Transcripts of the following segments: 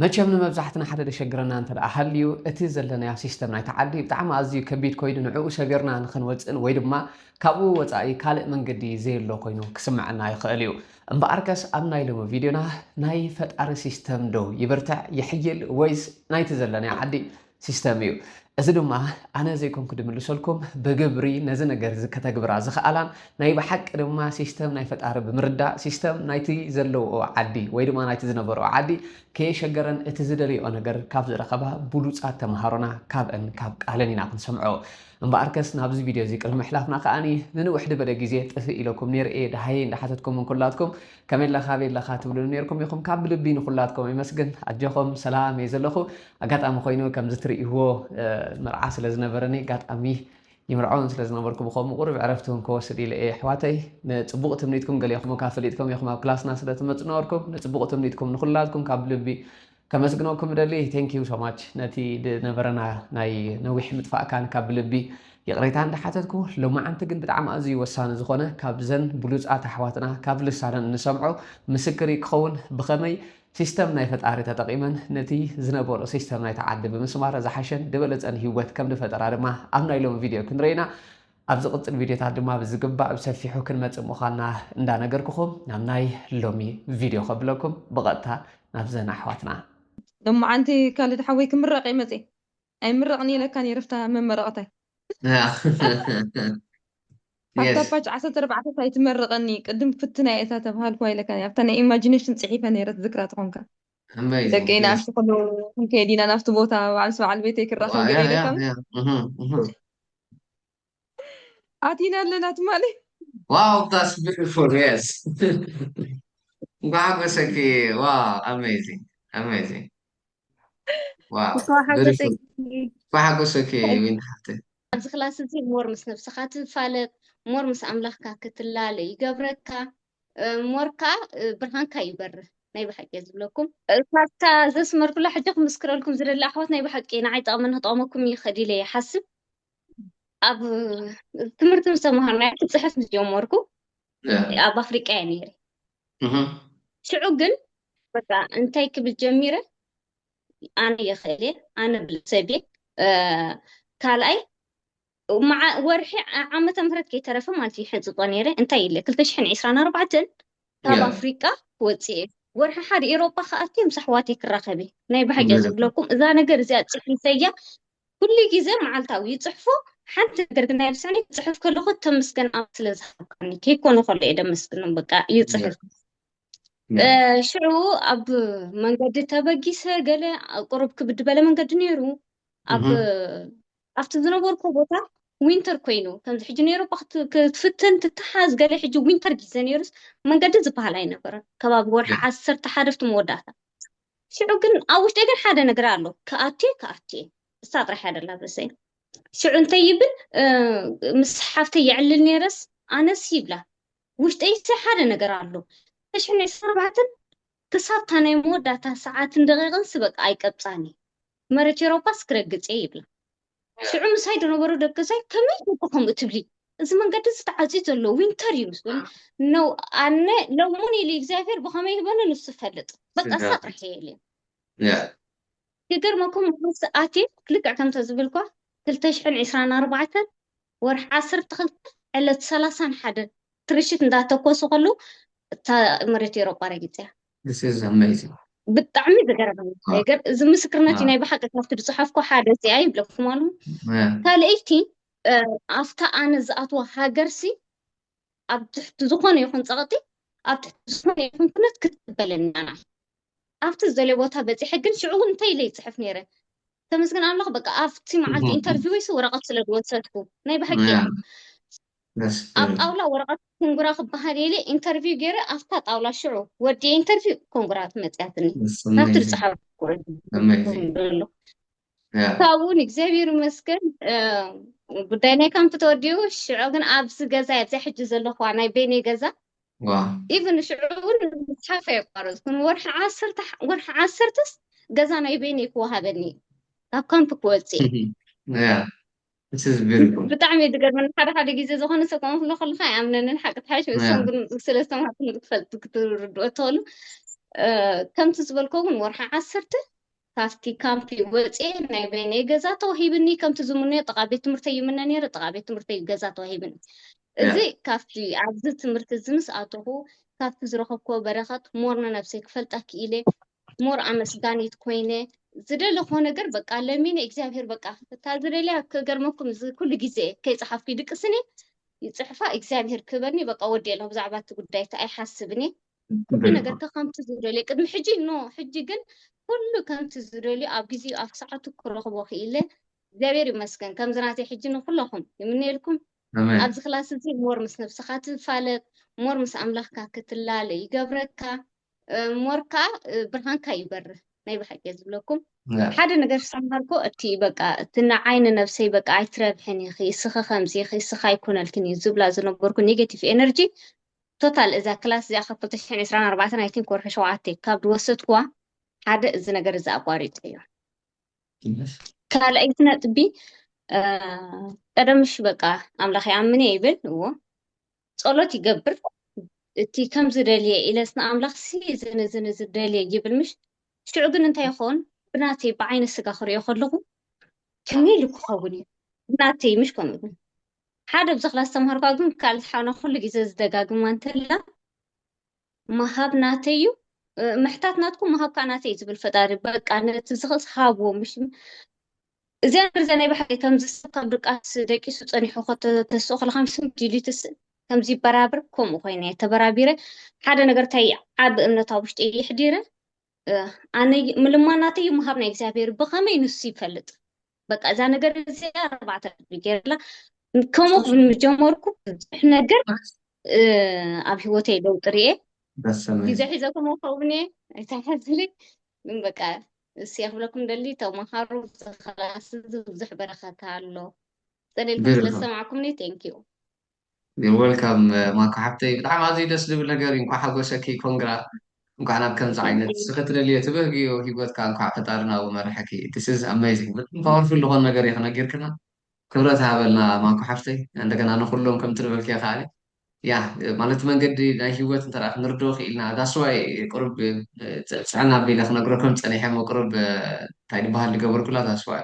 መቸም ንመብዛሕትና ሓደ ደሸግረና እንተ ደኣ ሃልዩ እቲ ዘለናዮ ሲስተም ናይታ ዓዲ ብጣዕሚ ኣዝዩ ከቢድ ኮይኑ ንዕኡ ሰቢርና ንኽንወጽእን ወይ ድማ ካብኡ ወጻኢ ካልእ መንገዲ ዘየሎ ኮይኑ ክስመዐና ይኽእል እዩ። እምበኣርከስ ኣብ ናይ ሎሚ ቪድዮና ናይ ፈጣሪ ሲስተም ዶ ይብርትዕ፣ ይሕይል ወይስ ናይቲ ዘለናዮ ዓዲ ሲስተም እዩ። እዚ ድማ ኣነ ዘይኮንኩ ድምልሰልኩም ብግብሪ ነዚ ነገር እዚ ከተግብራ ዝኸኣላን ናይ ብሓቂ ድማ ሲስተም ናይ ፈጣሪ ብምርዳእ ሲስተም ናይቲ ዘለውኦ ዓዲ ወይ ድማ ናይቲ ዝነበረኦ ዓዲ ከየሸገረን እቲ ዝደልየኦ ነገር ካብ ዝረኸባ ብሉፃት ተምሃሮና ካብእን ካብ ቃለን ኢና ክንሰምዖ እምበኣርከስ ናብዚ ቪድዮ እዚ ቅድሚ ምሕላፍና ከዓኒ ንንውሕ ድበለ ግዜ ጥፍእ ኢለኩም ነይረ እየ ደሃየ እንዳሓተትኩም እንኩላትኩም ከመለ ካበይ ኣለኻ ትብሉኒ ኔርኩም ኢኹም ካብ ብልቢ ንኹላትኩም የመስግን ኣጆኹም ሰላም እየ ዘለኹ ኣጋጣሚ ኮይኑ ከምዚ ትርእይዎ መርዓ ስለ ዝነበረኒ ኣጋጣሚ ይምርዖን ስለ ዝነበርኩ ብከምኡ ቁርብ ዕረፍቲ እውን ከወስድ ኢለ እየ ኣሕዋተይ ንፅቡቕ ትምኒትኩም ገሊኹም ካብ ፈሊጥኩም ኢኹም ኣብ ክላስና ስለ ትመፁ ነበርኩም ንፅቡቕ ትምኒትኩም ንኹላትኩም ካብ ልቢ ከመስግነኩም እደሊ thank you so much ነቲ ዝነበረና ናይ ነዊሕ ምጥፋእ ካን ካብ ብልቢ ይቕሬታ እንዳሓተትኩ ሎማዓንቲ ግን ብጣዕሚ ኣዝዩ ወሳኒ ዝኾነ ካብዘን ብሉጻት ኣሕዋትና ካብ ልሳነን እንሰምዖ ምስክር እዩ ክኸውን ብኸመይ ሲስተም ናይ ፈጣሪ ተጠቂመን ነቲ ዝነበሮ ሲስተም ናይቲ ዓዲ ብምስማር ዝሓሸን ዝበለጸን ሂወት ከም ዝፈጠራ ድማ ኣብ ናይ ሎሚ ቪድዮ ክንርኤና ኣብ ዝቕጽል ቪድዮታት ድማ ብዝግባእ ብሰፊሑ ክንመጽእ ምዃንና እንዳነገርኩኹም ናብ ናይ ሎሚ ቪድዮ ከብለኩም ብቐጥታ ናብዘን ኣሕዋትና። ሎማዓንቲ ካልድ ሓወይ ክምረቅ እየ መፅየ ኣይምረቅን ኢለካ ነይረ ፍታ መመረቀታይ። ኣብታ ፓች ዓሰርተ ኣርባዕተ ታይ ትመርቀኒ ቅድም ክፍትና እየ እታ ተብሃልኩዋ ኢለካ ነይረ ኣብታ ናይ ኢማጂነሽን ፅሒፈ ነይረ ትዝክራ ተኮንካ። ከመይ እዩ ደቀይ ፊልም ንኣሽቱ ከለዉ ክንከይድ ኢና ናብቲ ቦታ በዓልሲ በዓል ቤተይ ክረኣ ከም ገለ ኢለካ ምስ ኣቲና ኣለና ትማሊ ዋው ዳስ ቢዩቲፉል የስ እንኳዕ ሓጎሰኪ ዋው ኣሜዚንግ ኣሜዚንግ ዋው እንኳዕ ሓጎሰኪ እንኳዕ ሓጎሰኪ ዊንታ ሓፍተይ ኣብዚ ክላስ እዚ ሞር ምስ ነብስኻ ትፋለጥ ሞር ምስ ኣምላኽካ ክትላለ ይገብረካ ሞርካ ብርሃንካ ይበርህ ናይ ብሓቂ እየ ዝብለኩም። ካብታ ዘስመርኩላ ሕጂ ክምስክረልኩም ዝደሊ ኣሕዋት ናይ ብሓቂ ንዓይ ጠቕመኒ ክጠቕመኩም ይኽእል ኢለ ይሓስብ ኣብ ትምህርቲ ምስ ተምሃርናዮ ክፅሕፍ ምስ ጀመርኩ ኣብ ኣፍሪቃ እየ ነይረ ሽዑ ግን በቃ እንታይ ክብል ጀሚረ ኣነ የኽእል እየ ኣነ ብልሰብ እየ ካልኣይ መዓ ወርሒ ዓመተ ምህረት ከይተረፈ ማለት እዩ ሕንፅፆ ነይረ እንታይ ኢለ ክልተ ሽሕን ዒስራን ኣርባዕተን ካብ ያ ኣፍሪቃ ወፂኤ ወርሒ ሓደ ኤሮጳ ክኣቲ ምስ ኣሕዋተይ ክራኸብ እየ ናይ ብሓቂ እየ ብለካ ዝብለኩም እዛ ነገር እዚኣ ፅሒፈያ ኩሉ ግዜ መዓልታዊ ይፅሕፎ ሓንቲ ነገር ግን ኣይርስዕን ክፅሕፍ ከለኹ ተመስገን ኣብ ስለ ዝሃብካኒ ከይኮነ ከሎ እየ ደመስግኖም በቃ ያ ይፅሕፍ ያ እ፣ ሽዑ ኣብ መንገዲ ተበጊሰ ገለ ቁሩብ ክብድ በለ መንገዲ ነይሩ ኣብ እህ፣ ኣብቲ ዝነበርኩ ቦታ ዊንተር ኮይኑ ከምዚ ሕጂ ነይሩ እባ ክት- ክትፍትን ትተሓዝ ገለ ሕጂ ዊንተር ግዜ ነይሩስ መንገዲ ዝበሃል ኣይነበረን ከባቢ ወርሒ ዓሰርተ ሓደ ኣብቲ መወዳእታ ሽዑ ግን ኣብ ውሽጢ ግን ሓደ ነገር ኣሎ ክኣትየ ክኣትየ እሳ ጥራሕ እያ ደላ ብርእሰይ ሽዑ እንታይ ይብል እ፣ ምስ ሓፍተይ የዕልል ነይረስ ኣነስ ይብላ ውሽጠይሰ ሓደ ነገር ኣሎ ተሽሕነ ዓሰርተ ኣርባዕተን ክሳብታ ናይ መወዳእታ ሰዓትን ደቂቕንስ በቃ ኣይቀብፃኒ መሬት ኤሮጳስ ክረግጽ እየ ይብላ። ሽዑ ምሳይ ዝነበሩ ደቅሰይ ከመይ ጌርኪ ከምኡ ትብሊ እዚ መንገዲ እዚ ተዓጽዩ ዘሎ ዊንተር እዩ ምስ በሉ ነው ኣነ ለሙን ኢሊ እግዚኣብሔር ብኸመይ ይህበኒ ንሱ ይፈልጥ በቃ ሳቅ ርሕየ ኢሊ ያ ክገርመኩም ምስ ኣትየ ልክዕ ከምተ ዝብልኳ ክልተ ሽሕን ዕስራን ኣርባዕተን ወርሒ ዓሰርተ ክልተ ዕለት ሰላሳን ሓደን ትርሽት እንዳተኮሱ ከለዉ እታ መሬት ኤሮጳ ረጊጸ እያ This is amazing. ብጣዕሚ ዝገረመኒ ዋው። ነገር እዚ ምስክርነት እዩ ዋው። ናይ ብሓቂ ካብቲ ዝፅሓፍኩ ሓደ እዚኣ ይብለኩም ኣለኹ Yeah. ካልኣይቲ እ፣ ኣብታ ኣነ ዝኣትዋ ሃገርሲ ኣብ ትሕቲ ዝኾነ ይኹን ፀቕጢ ኣብ ትሕቲ ዝኾነ ይኹን ኩነት ክትበለኒ ኣና ኣብቲ ዝደለየ ቦታ በፂሐ ግን ሽዑ እውን እንታይ ኢለ ይፅሕፍ ነይረ ተመስገን ኣምላኽ በቃ ኣብቲ መዓልቲ ኢንተርቪወይ ሲ ወረቐት ስለ ዝወሰድኩ ናይ ብሓቂ እያ Yeah. That's ኣብ good. ጣውላ ወረቐት ኮንግራ ክበሃል የለ ኢንተርቪው ገይረ ኣብታ ጣውላ ሽዑ ወዲየ ኢንተርቪው ኮንግራ ትመፅያትኒ That's ናብቲ amazing. ዝፀሓፍ Amazing. ዘሎ Yeah. ካብኡ እውን እግዚኣብሔር ይመስገን እ፣ ጉዳይ ናይ ካምፕ ተወዲኡ ሽዑ ግን ኣብዚ ገዛ ኣብዚ ሕጂ ዘለኹዋ ናይ ቤኔ ገዛ ዋው ኢቭን ንሽዑ እውን ምፅሓፍ ኣየቋረፅኩን ንወርሒ ዓሰርተ ሓ- ወርሒ ዓሰርተስ ገዛ ናይ በይነይ ክወሃበኒ እዩ ካብ ካምፕ ክወፅእ እዩ ያ this is beautiful ብጣዕሚ እዩ ዝገርመኒ ሓደ ሓደ ግዜ ዝኾነ ሰብ ከምኡ ክብሎ ከለካ ኣይኣምነንን ሓቂ ትሓይሽ ያ ንሶም ግን ስለ ዝተምሃርኩም ክትፈልጥ ክትርድኦ እትኽእሉ እ፣ ከምቲ ዝበልኮ እውን ወርሒ ዓሰርተ ካብቲ ካምፕ ወጽየ ናይ በይነይ ገዛ ተዋሂብኒ፣ ከምቲ ዝምነዮ ጥቓ ቤት ትምህርተይ ይምነ ነይረ፣ ጥቓ ቤት ትምህርተይ ገዛ ተዋሂብኒ። እዚ ካብቲ ኣብዚ ትምህርቲ እዚ ምስ ኣተኹ ካብቲ ዝረኸብክዎ በረከት ሞር ንነብሰይ ክፈልጣ ክኢለ፣ ሞር ኣመስጋኒት ኮይነ፣ ዝደለኽዎ ነገር በቃ ለሚነ እግዚኣብሄር በቃ እታ ዝደልያ ክገርመኩም እዚ ኩሉ ግዜ ከይጸሓፍኩ ይድቅስን እየ ይጽሕፋ እግዚኣብሄር ክህበኒ በቃ ወዲኤ ኣለኹ ብዛዕባ እቲ ጉዳይ እቲ ኣይሓስብን እየ። ኩሉ ነገር ከከምቲ ዝደልዮ ቅድሚ ሕጂ ኖ ሕጂ ግን ኩሉ ከምቲ ዝደልዮ ኣብ ግዜኡ ኣብ ሰዓቱ ክረኽቦ ክኢለ እግዚኣብሔር ይመስገን ከምዚ ናተይ ሕጂ ንኩለኹም ይምነየልኩም ኣብዚ ክላስ እዚ ሞር ምስ ነብስኻ ትፋለጥ ሞር ምስ ኣምላኽካ ክትላለ ይገብረካ ሞር ከዓ ብርሃንካ ይበርህ ናይ ብሓቂ ዝብለኩም ሓደ ነገር ሰምሃርኮ እቲ በቃ እቲ ንዓይ ንነብሰይ በቃ ኣይትረብሕን ኢኺ እስኺ ከምዚ ኢኺ እስኺ ኣይኮነልክን እዩ ዝብላ ዝነበርኩ ኔጌቲቭ ኤነርጂ ቶታል እዛ ክላስ እዚኣ ካብ ክልተ ሽሕን ዕስራን ኣርባዕተን ኣይ ቲንክ ወርሒ ሸውዓተ ካብ ዝወሰድኩዋ ሓደ እዚ ነገር እዚ ኣቋሪጸዮ። ካልኣይቲ ነጥቢ ቀደም እሺ በቃ ኣምላኽ ይኣምን እየ ይብል እዎ ጸሎት ይገብር እቲ ከም ዝደልየ ኢለስ ንኣምላኽሲ እዝን እዝን እዚ ደልየ ይብል ምሽ ሽዑ ግን እንታይ ይኸውን ብናተይ ብዓይነ ስጋ ክሪኦ ከለኹ ከመይ ኢሉ ክኸውን እዩ ብናተይ ምሽ ከምኡ ግን ሓደ ኣብዚ ክላስ ዝተማሃርኳ ግን ካልድ ሓውና ኩሉ ግዜ ዝደጋግማ እንተላ ምሃብ ናተይ እዩ ምሕታት ናትኩም ምሃብ ከዓ ናተይ እዩ ዝብል ፈጣሪ በቃ ነቲ ዝኽእልስ ሃብዎ ምሽ እዚኣ ንርዘ ናይ ባሕሪ ከምዚ ሰብ ካብ ድቃስ ደቂሱ ፀኒሑ ከተስኦ ከለካ ምስም ዲሊትስ ከምዚ ይበራብር ከምኡ ኮይነ ተበራቢረ ሓደ ነገር ታይ ዓቢ እምነት ኣብ ውሽጢ ይሕዲረ ኣነ ምልማ ናተይ ምሃብ ናይ እግዚኣብሔር ብኸመይ ንሱ ይፈልጥ በቃ እዛ ነገር እዚኣ ኣርባዕተ ቅድሚ ገይርላ ከምኡ ጀመርኩ ብዙሕ ነገር እ፣ ኣብ ሂወተይ ለውጢ ርኤ በሰመ ግዜ ሒዘ ከምኡ ከውን እየ ኣይተሓዝሊ ግን በቃ እስ ክብለኩም ደሊ ተምሃሩ ዝክላስ እዚ ብዙሕ በረኸት ኣሎ ፀሊልኩም ስለ ግርም ዝሰማዕኩምኒ ቴንኪዩ You're welcome ማኩ ሓብተይ ብጣዕሚ ኣዝዩ ደስ ዝብል ነገር እዩ እንኳዕ ሓጎሰኪ ኮንግራ እንኳዕ ናብ ከምዚ ዓይነት እስኺ ትደልዮ ትብህግዮ ሂወትካ እንኳዕ ፈጣሪ ናብኡ መረሐኪ this is amazing ብጣዕሚ powerful ዝኾነ ነገር ኢኺ ነጊርክና ክብረት ሃበልና ማኩ ሓፍተይ እንደገና ንኹሎም ከምቲ ዝበልክዮ ከኣ ያ ማለት መንገዲ ናይ ሂወት እንተ ክንርድኦ ክኢልና that's why ቅሩብ ፅዕና ኣቢለ ክነግረኩም ፀኒሐ እሞ ቅሩብ እንታይ ዝበሃል ዝገበርኩላ that's why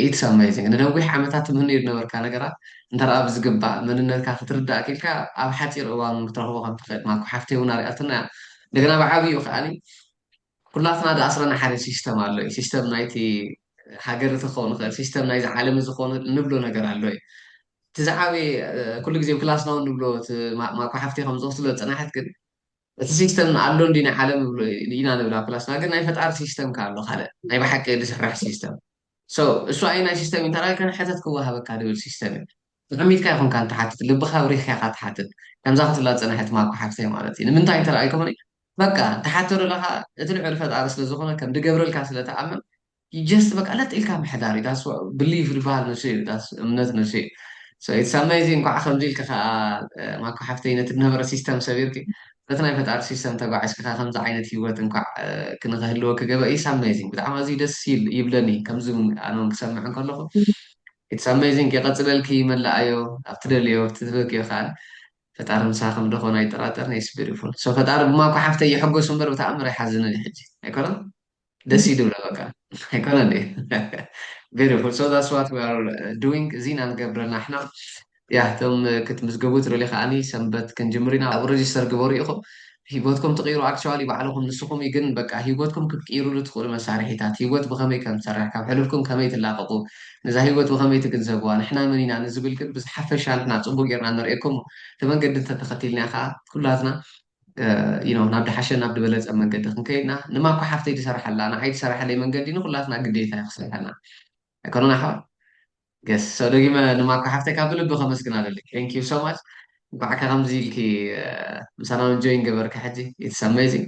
ኢትስ ኣመይዚንግ ንነዊሕ ዓመታት ትምህንዮ ዝነበርካ ነገራት እንተደኣ ብዝግባእ መንነትካ ክትርዳእ ክኢልካ ኣብ ሓጺር እዋን ውን ክትረኽቦ ከም ትኽእል ማኩ ሓፍተይ ውን ኣርያትና እያ እንደገና ብዓብይኡ ከኣ ኩላትና ዝኣስረና ሓደ ሲስተም ኣሎ እዩ ሲስተም ናይቲ ሃገር እቲ ክኸውን ይኽእል ሲስተም ናይዚ ዓለም እዚ ክኸውን እንብሎ ነገር ኣሎ እዩ እቲ ዝዓበየ ኩሉ ግዜ ክላስና ውን ንብሎ እቲ ማኩ ሓፍተይ ከም ዝወስድሎ ዝጸናሐት ግን እቲ ሲስተም ኣሎ እንድዩ ናይ ዓለም ኢና ንብላ ፕላስ ግን ናይ ፈጣሪ ሲስተም ከ ኣሎ ካልእ ናይ ብሓቂ ድስርሕ ሲስተም so እሱ ኣይናይ ሲስተም እዩ እንተላይ ከ ሕተት ክወሃበካ ድብል ሲስተም እዩ ተቀሚጥካ ኣይኮንካ ንትሓትት ልብካ ኣብሪህካ ኢካ ትሓትት ከምዛ ክትብላ ዝጸነሐት ማኮ ሓፍተይ ማለት እዩ ንምንታይ እንተ ኣይኮነ በቃ ትሓቶ ደለካ እቲ ልዑል ፈጣሪ ስለ ዝኮነ ከም ድገብረልካ ስለ ትኣምን you just በቃ ለጥ ኢልካ ምሕዳር እዩ that's what believe ዝበሃል ንሱ እዩ that's እምነት ንሱ እዩ so it's amazing እንኳዕ ከምዚ ኢልኪ ከኣ ማኮ ሓፍተይ ነቲ ዝነበረ ሲስተም ሰቢርኪ በቲ ናይ ፈጣሪ ሲስተም ተጓዒዝኪ ከኣ ከምዚ ዓይነት ሂወት እንኳዕ ክንክህልወኪ ገበ it's amazing ብጣዕሚ ኣዝዩ ደስ ይብለኒ ከምዚ ኣነ እውን ክሰምዕ እንከለኹ ኢትስ ኣሜዚንግ የቐፅለልኪ መላኣዮ ኣብ ትደልዮ ትበክዮ ከዓል ፈጣሪ ምሳኸም ደኾን ኣይጠራጠርን ኢትስ ቢዩቲፉል ሶ ፈጣሪ ብማኮ ሓፍተይ ይሕጎስ እምበር ብተኣምር ኣይሓዝንን እዩ ሕጂ ኣይኮነን ደስ እዩ ድብለ በቃ ኣይኮነ እንዴ ቢዩቲፉል ሶ ዛትስ ዋት ዊ ኣር ዱዊንግ እዚ ኢና ንገብረ ናሕና ያ እቶም ክትምዝገቡ ትደልዩ ከዓኒ ሰንበት ክንጅምር ኢና ኣብ ረጅስተር ግበሩ ኢኹም ሂወትኩም ትቕይሩ ኣክቸዋሊ ባዕልኹም ንስኹም እዩ ግን በቃ ሂወትኩም ክትቅይሩሉ ትኽእሉ መሳርሒታት ሂወት ብኸመይ ከም ትሰርሕ ካብ ሕሉፍኩም ከመይ ትላቐቑ ነዛ ሂወት ብኸመይ ትግንዘብዋ ንሕና መን ኢና ንዝብል ግን ብዝሓፈሻ ንሕና ጽቡቕ ጌርና ነርእየኩም እቲ መንገዲ እንተተኸቲልና ከኣ ኩላትና ናብ ድሓሸን ናብ ድበለጸን መንገዲ ክንከይድ እና ንማ እኳ ሓፍተይ ድሰርሓላ ንዓይ ድሰርሓለይ መንገዲ ንኩላትና ግዴታ እዩ ክስርሐልና ኣይኮነን ኣሕዋት ገስ ሰው ደጊመ ንማ እኳ ሓፍተይ ካብ ብልቢ ከመስግን ኣለለይ thank you so much እንኳዕ ከምዚ ኢልኪ ምሳና ውን ጆይን ገበርኪ ሕጂ it's amazing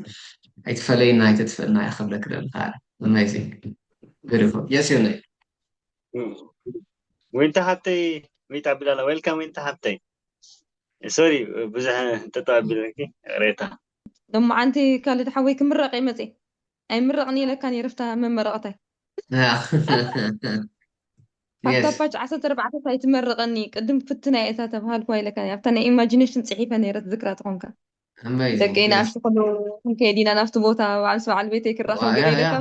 ኣይትፈለይና ኣይተጥፍእና እየ ክብለኪ ደሊ ከኣ amazing beautiful yes ዮነይ ዊንታ ሓፍተይ ዊንታ ኣቢላላ ዌልካም ዊንታ ሓፍተይ ሶሪ ብዙሕ እንተጠው ኣቢለኪ ይቕሬታ። ሎማዓንቲ ካልድ ሓወይ ክምረቅ እየ መፅየ ኣይምረቅን ኢለካ ነይረ ፍታ መመረቅታይ። ኣብታ ፓች ዓሰርተ ኣርባዕተ ታይ ትመርቀኒ ቅድም ክፍትና እየ እታ ተብሃልኩዋ ኢለካ ነይረ ኣብታ ናይ ኢማጂነሽን ፅሒፈ ነይረ ትዝክራ ተኾንካ። ደቂ ናኣሽቱ ከለዉ ክንከይድ ኢና ናብቲ ቦታ ባዓል ምስ ባዓል ቤተይ ክራኸብ ገለ ኢለካ።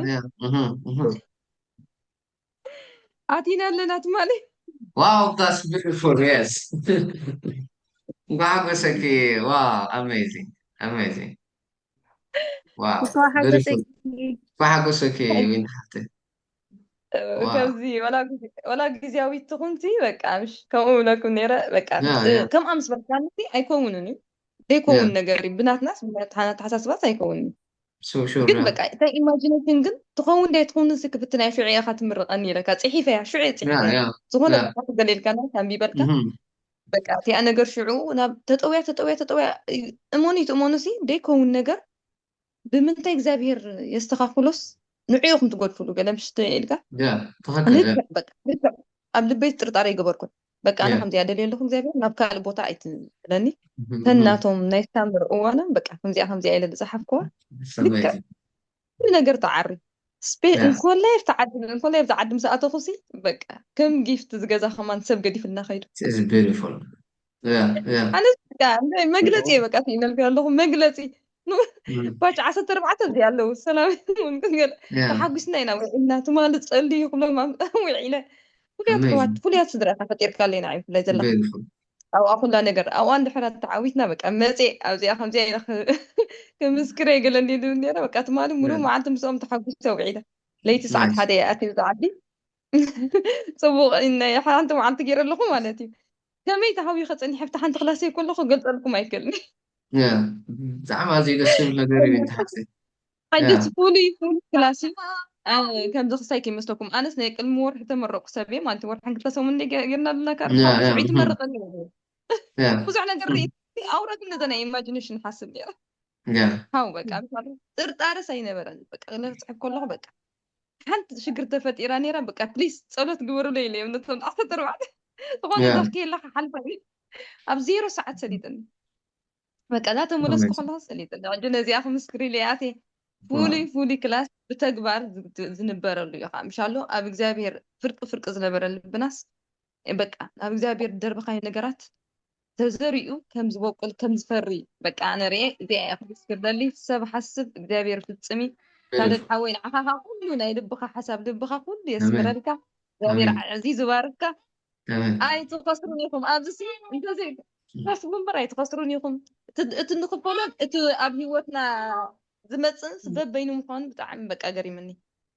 ኣቲና ኣለና ትማሊ ዋው ዳስ ቢዩቲፉል የስ እንኳዕ ሓጎሰኪ ዋው ኣሜዚንግ ኣሜዚንግ ዋው ቢዩቲፉል እንኳዕ ሓጎሰኪ ዊን ሓፍተይ ከምዚ ወላ ግዜያዊት ትኹንቲ በቃ ምሽ ከምኡ ብለኩም ነይረ በቃ ከምኣ ምስ በልካኒ ኣይከውንን እዩ ዘይከውን ነገር እዩ ብናትናስ ብናትሓሳስባስ ኣይከውንን ግን በቃ እታ ኢማጂነሽን ግን ትኸውን ዳይ ትኸውን ሲ ክፍትና ሽዑ ኢኻ ትምርቐኒ ኢለካ ፅሒፈ እያ ሽዑ ፅሒፈ ዝኾነ ገሌልካ ና ኣንቢበልካ በቃ እቲኣ ነገር ሽዑ ናብ ተጠውያ ተጠውያ ተጠውያ እመኑ ይትእመኑ ሲ ደይከውን ነገር ብምንታይ እግዚኣብሄር የስተኻኽሎስ ንዑ ኢኹም ትጎድፍሉ ገለ ምሽት ኢልካ ልክዕ ኣብ ልበይ ጥርጣረ ይገበርኩን በቃ ኣነ ከምዚኣ ደልየ ኣለኹ እግዚኣብሔር ናብ ካልእ ቦታ ኣይትብለኒ ተናቶም ናይ ሳምር እዋኖም በቃ ከምዚኣ ከምዚኣ ኢለ ዝፀሓፍኩዋ ልክዕ ኩሉ ነገር ተዓሪ ስፔ እንኮላይ ኣብቲ ዓዲ እንኮላይ ኣብቲ ዓዲ ምስ ኣተኹ ሲ በቃ ከም ጊፍት ዝገዛ ከማን ሰብ ገዲፍልና ከይዱ ኣነ በቃ መግለፂ እየ በቃ ኢነልክዮ ኣለኹ መግለፂ ባጭ ዓሰርተ ኣርባዕተ እዚ ኣለዉ ሰላም ተሓጒስና ኢና ውዒልና ትማሊ ፀሊ ይክሎም ውዒለ ፍሉያት ሕዋት ፍሉያት ስድራ እታ ፈጢርካ ኣለና እዩ ብላይ ዘላ ኣብኣ ኩላ ነገር ኣብኣ እንድሕራ ተዓዊትና በቃ መፀ ኣብዚኣ ከምዚኣ ኢና ክምስክረ ገለ እንዲሉ ነረ በቃ ትማሊ ሙሉእ መዓልቲ ምስኦም ተሓጒሰ ውዒለ ለይቲ ሰዓት ሓደ እያ ኣትዩ ዝዓዲ ጽቡቕ ናይ ሓንቲ መዓልቲ ገይረ ኣለኹ ማለት እዩ ከመይ ተሃዊኸ ጸኒሐ ኣብቲ ሓንቲ ክላሰይ ከለኹ ገልጸልኩም ኣይክእልን ያ ብጣዕሚ ኣዝዩ ደስ ዝብል ነገር እዩ እንተ ሓፍተይ ያ ሓንጀት ፍሉይ ፍሉይ ክላስ እዩ ኣ፣ ከምዚ ክሳይ ከይመስለኩም ኣነስ ናይ ቅድሚ ወርሒ ተመረቕኩ ሰብ እየ ማለት እዩ ወርሕን ክልተ ሰሙን እንደ ጌርና ኣለና ካብ ያ ሓሙስ ያ ውዒ እህ፣ ትመረቕ እለ ያ ብዙሕ ነገር እህ፣ ርእቲ ኣውራ ግን ነዛ ናይ ኢማጂኔሽን ሓስብ ነይረ ያ ሃው በቃ ጥርጣረስ ኣይነበረን በቃ ክጽሕፍ ከለኹ በቃ ሓንቲ ሽግር ተፈጢራ ነይራ በቃ ፕሊስ ጸሎት ግበሩለይ ኢለዮም ነቶም ዓሰርተ ኣርባዕተ ዝኾነ Yeah. ዳኽ ከየላ ክሓልፋ እዩ ኣብ ዜሮ ሰዓት ሰሊጥኒ በቃ እዛ ተመለስኩ Amazing. ከለኹ ሰሊጥኒ ሕጂ ነዚኣ ክምስክር ኢለ ኣትየ ፍሉይ ፍሉይ ክላስ ብተግባር ዝ- ዝንበረሉ እዩ ከዓ ምሻሎ ኣብ እግዚኣብሄር ፍርቂ ፍርቂ ዝነበረ ልብናስ በቃ ናብ እግዚኣብሄር ደርብኻዮ ነገራት ተዘሪኡ ከም ዝበቁል ከም ዝፈሪ በቃ ኣነ ርኤ እዚኣ እየ ክምስክር ደሊ ሰብ ሓስብ እግዚኣብሔር ፍጽም እዩ ካልድ ሓወይ ንዓኻ ካብ ኩሉ ናይ ልብኻ ሓሳብ ልብኻ ኩሉ የስምረልካ እግዚኣብሔር ኣዕዚዙ ባርካ ኣይትኸስሩን ኢኹም ኣብዚ እንተዘይ ሓስቡ እምበር ኣይትኸስሩን ኢኹም እቲ ንኽፈሎን እቲ ኣብ ሂወትና ዝመጽእን ስበብ በይኑ ምዃኑ ብጣዕሚ በቃ ገሪምኒ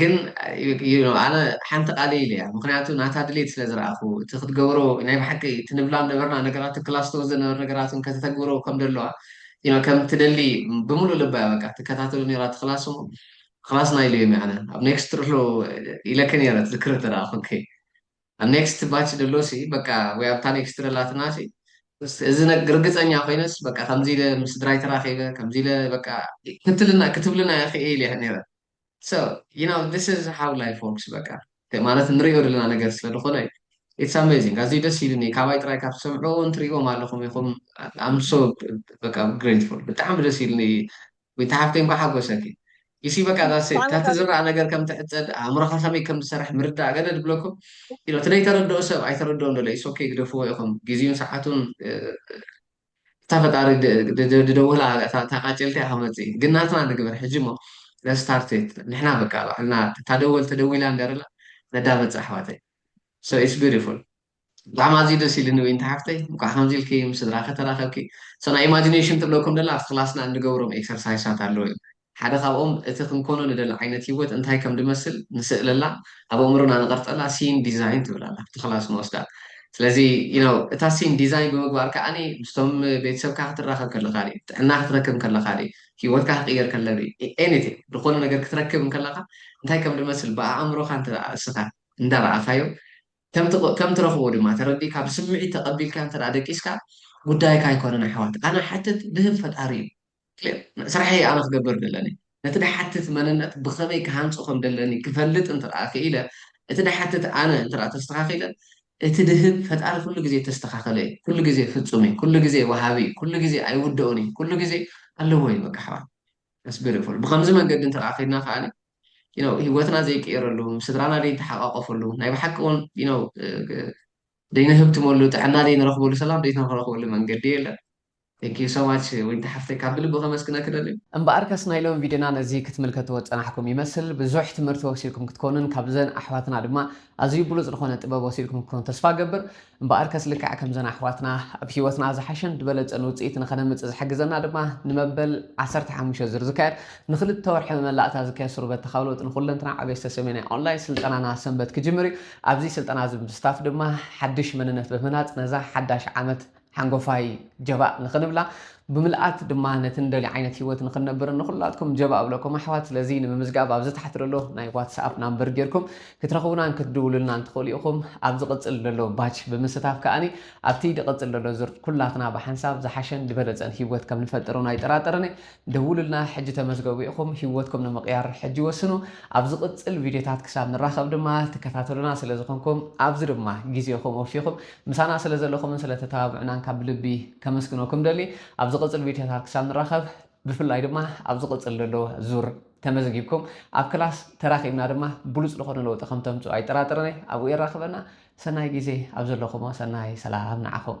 ግን you know ኣነ ሓንቲ ቃለይ ኢለያ ምኽንያቱ ናታ ድሌት ስለ ዝረኣኹ እቲ ክትገብሮ ናይ ብሓቂ እቲ ንብላ ዝነበርና ነገራት ክላስቶ ዝነበረ ነገራት እውን ከተተግብሮ ከም ደለዋ you know ከም ትደሊ ብምሉእ ልባ እያ በቃ ትከታተሎ ነይራ እቲ ክላስ እሞ ክላስና ኢለዮም እየ ኣነ ኣብ ኔክስት ርሎ ኢለኪ ነይረ ትዝክሪ እንተደኣ ኮንኪ ኣብ ኔክስት ባች ደሎሲ በቃ ወይ ኣብታ ኔክስት ደላትናሲ እዚ ነግ ርግፀኛ ኮይነስ በቃ ከምዚ ኢለ ምስ ስድራይ ተራኺበ ከምዚ ኢለ በቃ ክትልና ክትብልና እየ ክእ ኢለያ ነይረ so you know this is how life works በቃ ማለት ንሪኦ ዘለና ነገር ስለ ዝኾነ እዩ it's amazing ኣዝዩ ደስ ኢሉኒ ካባይ ጥራይ ካብ ትሰምዕዎ እውን ትሪእዎም ኣለኹም ኢኹም I'm so በቃ grateful ብጣዕሚ ደስ ኢሉኒ ወይታ ሓፍተይ እንኳ ሓጎሰኪ you see በቃ that's it ካብቲ ዝረኣ ነገር ከም ትዕፀድ ኣእምሮኻ ከመይ ከም ዝሰርሕ ምርዳእ ገደድ ብለኩም you know እቲ ዘይተረድኦ ሰብ ኣይተረድኦ ዶ it's okay ግደፍዎ ኢኹም ግዜኡን ሰዓቱን እታ ፈጣሪ ድደወላ እታ ቃጭልቲ እያ ክመጽእ እዩ ግን ናትና ንግበር ሕጂ እሞ let's start it ንሕና በቃ ባዕልና እታ ደወል ተደዊላ እንደርላ ነዳመጽ ኣሕዋተይ so it's beautiful ብጣዕሚ ኣዝዩ ደስ ኢሉኒ ዊንቲ ሓፍተይ እንኳዕ ከምዚ ኢልኪ ምስ ስድራኺ ተራኸብኪ so ናይ ኢማጂነሽን ትብለኩም ደላ ኣብቲ ክላስና እንገብሮም ኤክሰርሳይሳት ኣለዉ እዮም ሓደ ካብኦም እቲ ክንኮኖ ንደሊ ዓይነት ህይወት እንታይ ከም ድመስል ንስእለላ ኣብ ኣእምሮና ንቐርጸላ ሲን ዲዛይን ትብል ኣላ ኣብቲ ክላስ ንወስዳ ስለዚ you know እታ ሲን ዲዛይን ብምግባር ከኣ ምስቶም ቤተሰብካ ክትራኸብ ከለኻ ጥዕና ክትረክብ ከለኻ ህይወትካ ክቕየር ከለ anything ዝኾነ ነገር ክትረክብ ከለኻ እንታይ ከም ድመስል ብኣእምሮኻ እንተ እስኻ እንዳ ረኣኻዮ ከም ትረኽቦ ድማ ተረዲእካ ብስምዒት ተቐቢልካ እንተ ደቂስካ ጉዳይካ ኣይኮነን ኣሕዋት ኣነ ሓትት ድህብ ፈጣሪ እዩ። ክሊር። ስራሐይ ኣነ ክገብር ደለኒ፣ ነቲ ድሓትት መንነት ብኸመይ ክሃንጾ ከም ደለኒ ክፈልጥ እንተ ደኣ ክኢለ፣ እቲ ድሓትት ኣነ እንተ ደኣ ተስተኻኺለ፣ እቲ ድህብ ፈጣሪ ኩሉ ግዜ እተስተኻኸለ እዩ። ኩሉ ግዜ ፍጹም እዩ። ኩሉ ግዜ ወሃቢ እዩ። ኩሉ ግዜ ኣይውደኦን እዩ። ኩሉ ግዜ ኣለዎ እዩ በቃ ኣሕዋት። That's beautiful። ብኸምዚ መንገዲ እንተ ደኣ ከይድና ከኣ you know ህይወትና ዘይቅየረሉ፣ ምስ ስድራና ዘይንተሓቛቖፈሉ፣ ናይ ብሓቂ እውን you know ዘይንህብትመሉ፣ ጥዕና ዘይንረኽበሉ፣ ሰላም ዘይንረኽበሉ መንገዲ የለን። Thank you so much ዊንታ ሓፍተይ ካብ ብልቢ ከመስግነኪ እደሊ። እምበኣርከስ ናይ ሎሚ ቪድዮና ነዚ ክትምልከትዎ ዝጸናሕኩም ይመስል። ብዙሕ ትምህርቲ ወሲድኩም ክትኮኑን ካብዘን ኣሕዋትና ድማ ኣዝዩ ብሉጽ ዝኾነ ጥበብ ወሲድኩም ክትኮኑ ተስፋ እገብር። እምበኣርከስ ልክዕ ከምዘን ኣሕዋትና ኣብ ሂወትና ዝሓሸን ዝበለጸን ውጽኢት ንኸነምጽእ ዝሕግዘና ድማ ንመበል ዓሰርተ ሓሙሽተ ዙር ዝካየድ ንኽልተ ወርሒ መመላእታ ዝካየድ ሱር በተኻዊ ለውጢ ንኹለንትና ዕቤስተ ሰሜናይ ኦንላይን ስልጠናና ሰንበት ክጅምር እዩ። ኣብዚ ስልጠና እዚ ብምስታፍ ድማ ሓድሽ መንነት ብምህናጽ ነዛ ሓዳሽ ዓመት ሓንጎፋይ ጀባእ ንኽንብላ ብምልኣት ድማ ነቲ ንደልዮ ዓይነት ህይወት ንኽንነብርን ንኹላትኩም ጀባእ እብለኩም ኣሕዋት። ስለዚ ንምምዝጋብ ኣብዚ ታሕቲ ዘሎ ናይ ዋትስኣፕ ናምበር ጌርኩም ክትረኽቡናን ክትድውሉልናን ትኽእሉ ኢኹም። ኣብ ዝቕጽል ዘሎ ባች ብምስታፍ ከኣ ኣብቲ ድቕጽል ዘሎ ዙር ኩላትና ብሓንሳብ ዝሓሸን ድበለጸን ህይወት ከም ንፈጥር እውን ኣይጠራጠርን እየ። ደውሉልና ሕጂ ተመዝገቡ ኢኹም ህይወትኩም ንምቕያር ሕጂ ወስኑ። ኣብ ዝቕጽል ቪድዮታት ክሳብ ንራኸብ ድማ ትከታተሉና ስለ ዝኾንኩም ኣብዚ ድማ ግዜኹም ወፊኹም ምሳና ስለ ዘለኹምን ስለ ተተባብዑናን ካብ ብልቢ ከመስግነኩም ደሊ። ኣብ ዝቕጽል ቪድዮታት ክሳብ ንራኸብ ብፍላይ ድማ ኣብ ዝቕጽል ዘሎ ዙር ተመዝጊብኩም ኣብ ክላስ ተራኺብና ድማ ብሉጽ ዝኾነ ለውጢ ከም ተምጽኡ ኣይጠራጥርን እየ። ኣብኡ የራኽበና። ሰናይ ግዜ ኣብ ዘለኹሞ ሰናይ ሰላም ንዓኹም።